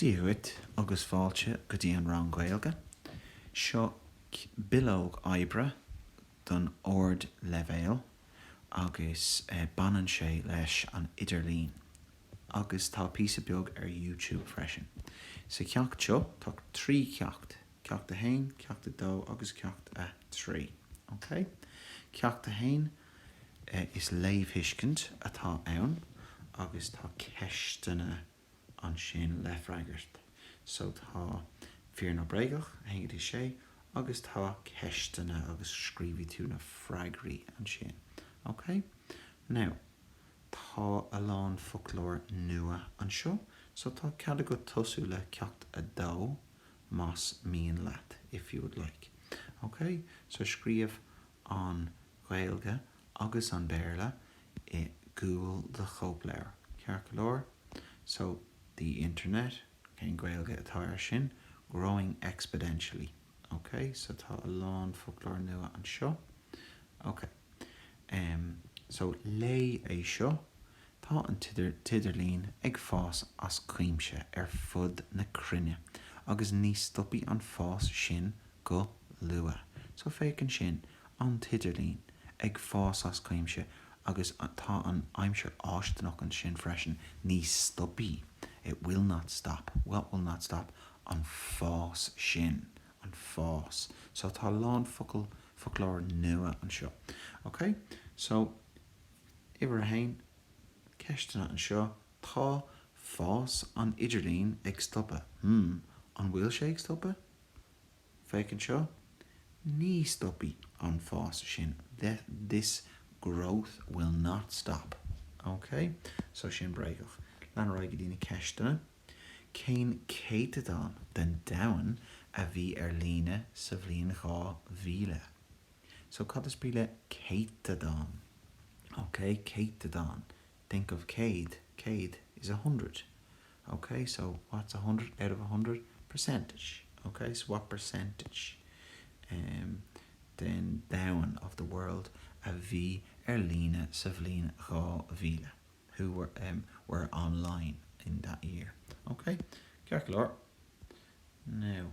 Dia dhuit agus fáilte go dtí an rang Gaeilge. Seo bileog oibre don ardleibhéal agus baineann sé leis an idirlíon agus tá píosa beag ar youtube freisin. Sa cheacht seo tá trí cheacht, Ceacht 1, Ceacht 2 agus Ceacht 3. Ok, Ceacht 1. Is léamhthuiscint atá ann agus tá ceisteanna ansin le freagairt. So tá fíor nó bréagach, 1 go dtí 6, agus tá ceisteanna agus scríobhfaidh tú na freagraí ansin. Ok? Now, tá a lán foclóir nua anseo so tá cead agat tosú le Ceacht 2 más mian leat, if you would like. Ok? So scríobh an Gaeilge agus an Béarla i gcúl do chóipleabhair, ceart go leor. So, the internet, cén Gaeilge atá ar sin? Growing exponentially. Ok, so tá a lán foclóir nua anseo. Ok, em, so léigh é seo, Tá an t-idirlíon ag fás as cuimse ar fud na cruinne agus ní stopfaidh an fás sin go luath. So féach ansin, an t-idirlíon ag fás as cuimse agus tá an aimsir fháistineach ansin freisin, ní stopfaidh, it will not stop. What will not stop? An fás sin. An fás. So tá a lán focal, foclóir nua anseo. Okay? So. Uimhir a haon, Ceisteanna anseo, Tá fás an idirlín ag stopadh. Hmm, an bhfuil sé ag stopadh? Féach anseo, Ní stopfaidh an fás sin, that, this, growth will not stop. Ok, so sin bréagach. Lean ar aghaidh go dtí na ceisteanna. Cén céatadán den domhan a bhí ar líne sa bhliain 2000? So cad is brí le céatadán? Ok, céatadán, think of céad, céad is a hundred. Ok, so what's a hundred out of a hundred? Percentage. Ok, so what percentage ehm den domhan, of the world, a bhí ar líne sa bhliain 2000? Who were ehm were online in that year? Ok, ceart go leor. Now.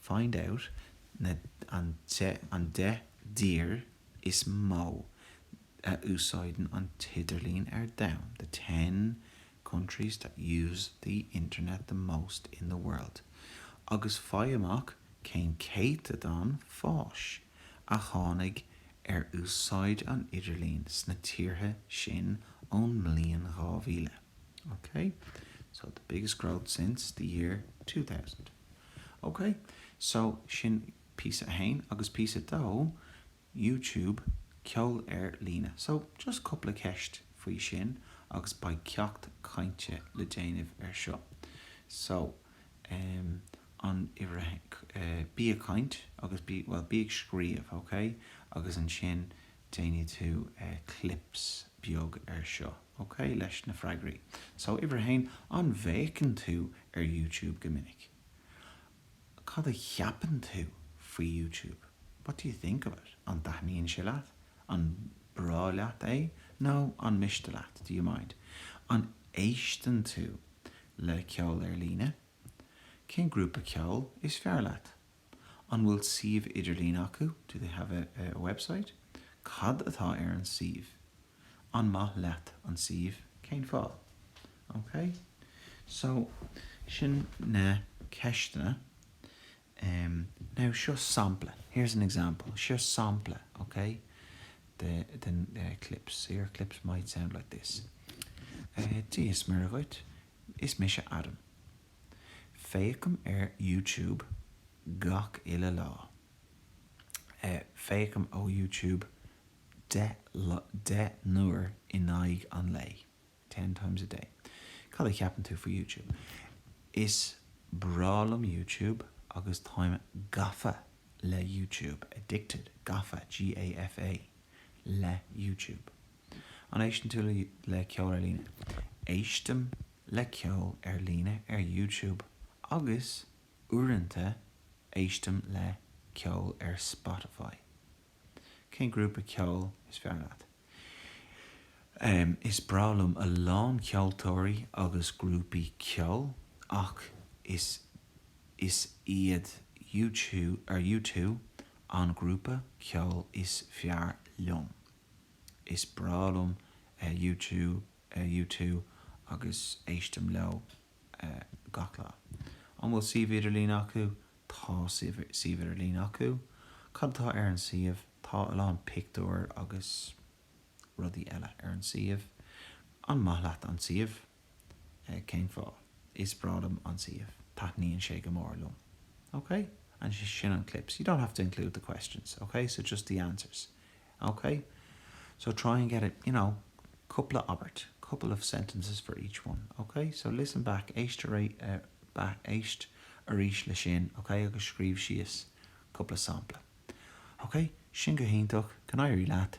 Find out na an deich dtír is mó a úsáideann an t-idirlíon ar domhan, the ten countries that use the internet the most in the world, agus faigh amach cén céatadán fáis a tháinig ar úsáid an idirlín sna tíortha sin ón mbliain 2000. Okay? So, the biggest growth since the year 2000. Ok, so sin píosa a haon agus píosa a dó, YouTube, ceol ar líne. So, just cúpla ceist faoi sin agus beidh ceacht cainte le déanamh ar seo. So, em, an uimhir, eh, bí ag caint agus bí, bhuel, bí ag scríobh, ok? Agus ansin, déanfaidh tú clips beag ar seo, ok? leis na freagraí. So, uimhir a haon, an bhféachann tú ar YouTube go minic? Cad a cheapann tú faoi YouTube? What do you think of it? An dtaitníonn sé leat? An breá leat é nó an miste leat? Do you mind? An éisteann tú le ceol ar líne? Cén grúpa ceoil is fearr leat? An bhfuil suíomh idirlín acu? Do they have a website? Cad atá ar an suíomh? An maith leat an suíomh? Cén fáth? Ok, so sin na ceisteanna. Now seo sampla, here's an example, seo sampla, ok, de chlips. So your clips might sound like this. Dia is Muire dhuit, is mise Adam. Féachaim ar YouTube gach uile lá. Eh, féachaim ar YouTube deich lá, deich n-uair in aghaidh an lae, ten times a day. Cad a cheapann tú faoi YouTube? Is breá liom YouTube agus táim gafa le YouTube, addicted, gafa, G-a-f-a, le YouTube. An éisteann tú le ceol ar líne? Éistim. le ceol ar líne ar YouTube agus uaireanta éistim le ceol ar Spotify. Cén grúpa ceoil is fearr leat? Is breá liom a lán ceoltóirí agus grúpaí ceoil ach is iad U2 an grúpa ceoil is fearr liom. Is breá liom U2 U2 agus éistim leo gach lá. An bhfuil suíomh idirlín acu? Tá suíomh idirlín acu. Cad atá ar an suíomh? Tá a lán pictiúir agus rudaí eile ar an suíomh. An maith leat an suíomh? Cén fáth? Is breá liom an suíomh. Taitníonn sé go mór liom. Ok? And sin an clips. You don't have to include the questions, ok? So just the answers. OK, so try and get it, you know, cupla abairt, couple of sentences for each one, OK? So listen back, listen back, éist arís le sin, OK, agus scríobh síos cupla sampla. OK, sin go hiontach, go n-éirí leat.